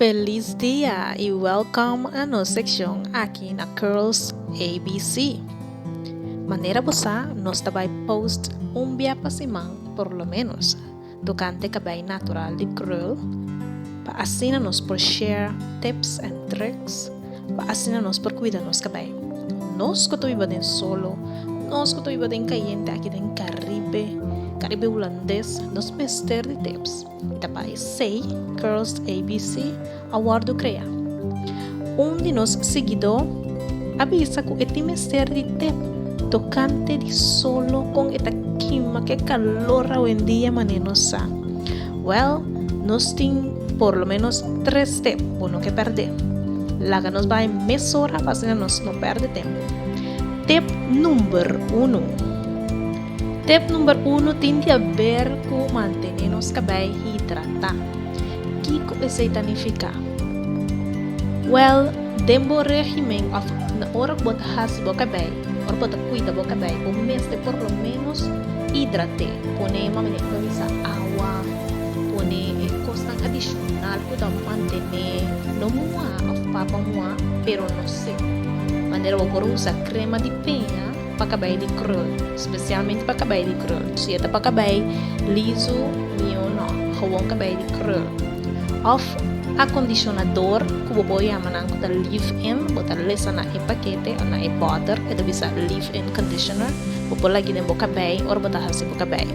Pelis dia y welkom a nos sekshon aki na Curls ABC. Manera bo sa nos ta bai post un bia pa siman por lo menos tokante kabei natural di krul pa asina nos por share tips en truks pa asina nos por kuida nos kabei. Nos ku ta biba den solo, nos ku ta biba den kayente aki den Karibe, Karibe Hulandes nos mester di tips. Ta pa esei Girls ABC a wòrdu krea. Un di nos siguidó a bisa ku e tin mester di té tokante di solo kon e ta kima ku e kalor awendia manera nos sa. Wèl, nos tin por lo ménos tres té bo no ke pèrdé. Laga nos bai mesora pa asina nos no pèrdè tempu. Tip nùmber unu. Tip number uno tin di aber cu mantene nos cabey hidrata. Kico esey ta nifica? Well, den bo regimen of na ora cu bo ta haci bo cabey, ora cu bo ta cuida bo cabey, bo mester por lo menos hidrate. Pone, mami Nelia ta bisa, awa, pone e cosnan adicional cu ta mantene no muha of papa muha, pero no sec. Manera bo por usa crema di peña. Pa kabai di krul, spesialmente pa kabai di krul, su e ta pa kabai lisu, mihó no hawon kabai di krul òf akondishonador ku bo por yama nan ku ta leave-in, bo ta lesa na e pakete òf na e bòter ku e ta bisa leave-in conditioner, bo por lag'e den bo kabai ora bo ta hasi bo kabai.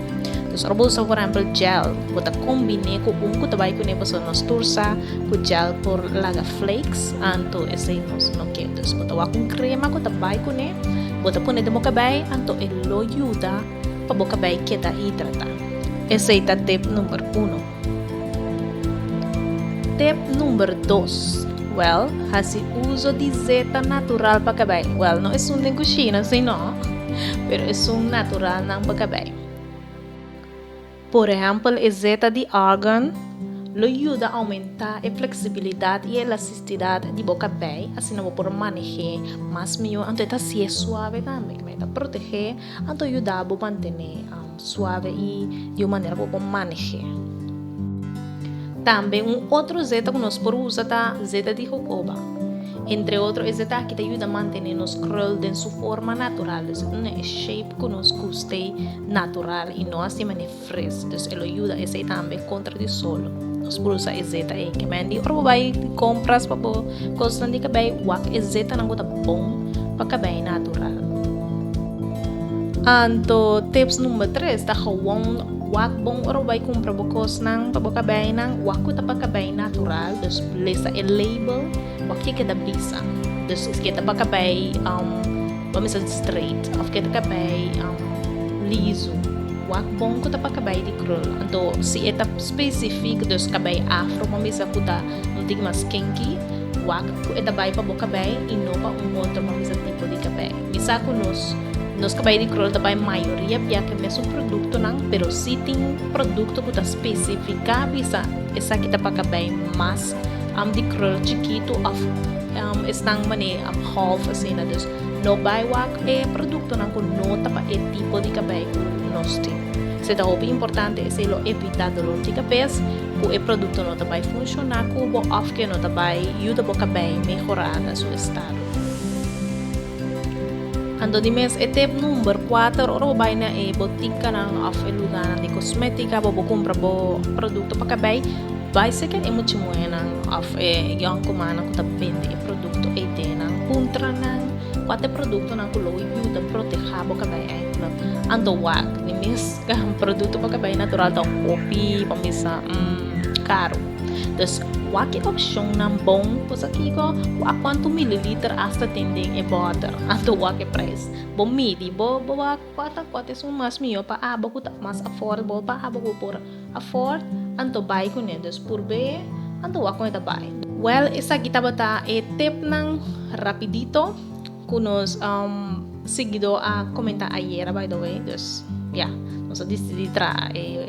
Dus ora bo usa por èmpel gel, bo ta kombiné ku un ku ta bai kuné pasobra nos tur sa ku gel por laga flakes, anto esei nos no ke. Dus bo ta wak un krema ku ta bai kuné, bo ta pone den bo kabei, anto e lo yuda pa bo kabei keda hidratá. Esei ta tip number uno. Tip number dos, Wèl, hasi uso di zeta natural pa kabei. Wèl, no esun den kushina, sino, pero esun naturalnan pa kabei. Por ehèmpel e zeta di argàn lo yuda oumentá e fleksibilidat i e elastistidat di bo kabei, asina bo por maneh'é mas mihó anto e ta sié suave tambe, kuma e ta protegé anto yuda bo mantené suave i di un manera ku bo por maneh'é. Tambe un otro zeta ku nos por usa ta zeta di hohoba. Entre otro e zeta aki ta yuda mantené nos krul den su forma natural, esei ku nos e shape ku nos gust'é. natural y no asi mane fris dus e lo yuda esey tambe contra di solo nos por usa e zeta ey kiba hendie ora bo bay compras pa bo cosnan di cabey wak e zetanan cu ta bon pa cabey natural anto tips number tres ta gewoon wak bon ora bo bay compra bo cosnan pa bo cabeynan wak cu ta pa cabey natural dus lesa e label wak ke ke ta bisa dus esque ta pa cabey. Lo mester ta straight of ke ta kabay liso. Wak bon ku ta pa kabay di krul. Anto si e ta specific dus kabay afro bo mester ku ta un tin mas kinky, wak ku e ta bay pa bo kabay y no pa un otro bo mester tipo di kabay. Mi sa ku nos nos kabay di krul ta bay mayoria bia ke mesun productonan pero si tin producto ku ta specifica bisa esaki ta pa kabay mas Am di krul chikitu of esnan manera am half asina dus no bai wak e produktonan ku no ta pa e tipo di kabei ku nos tin. Se ta hopi importante esei lo evitá dolor di kabes ku e produkto no ta bai funshoná ku bo of ke no ta bai yuda bo kabei mehorá na su estado. Anto di mes e tep number kuater ora bo bai na e botikanan òf e lugánan di kosmétika bo bo kumpra bo produkto pa kabei, bai seken e muchimuenan òf e yon kumannan ku ta bende e produkto ei den nan, puntra nan kua ta e produktonan ku lo yuda protehá bo kabei èntro. Anto wak, di mes produkto pa kabei natural ta un hopi pa misa karu. Dus wak e opshonnan bon kosa kiko ku a kuantu mililiter asta tin den e bòter anto wak e prijs. Bo midi bo bo wak kua ta kua ta esun mas mihó pa abo ku ta mas affordable pa abo ku por afford anto bai kuné. Dus purb'é anto wak kua ta bai. Wèl esaki tabata e tipnan rapidito. Cu nos siguidor a comenta ayera by the way, dus ya, nos a dicidi traha e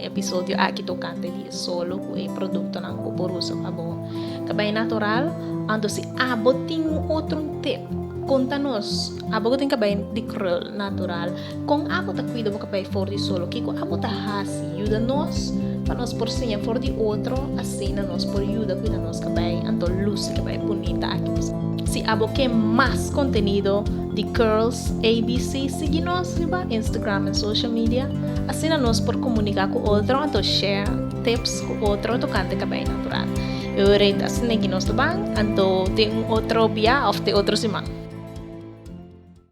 episodio aki tocante di e solo cu e productonan cu por usa pa bo cabello natural. Anto si abo tin un otro tip, conta nos, abo cu tin cabello di krul natural. Kon abo ta kuida bo kapay for di solo? Kiko abo ta hasi yuda nos pa nos por siña for di otro, asina nos por yuda kuida nos kabei anto lusi kabei bunita aki p'esei. Si abo ke mas kontenido di Curls ABC sigui nos riba Instagram en social media, asina nos por komunika ku otro anto share tips ku otro tokante kabei natural. E oret asin'eki nos ta ban anto te un otro bia òf te otro siman.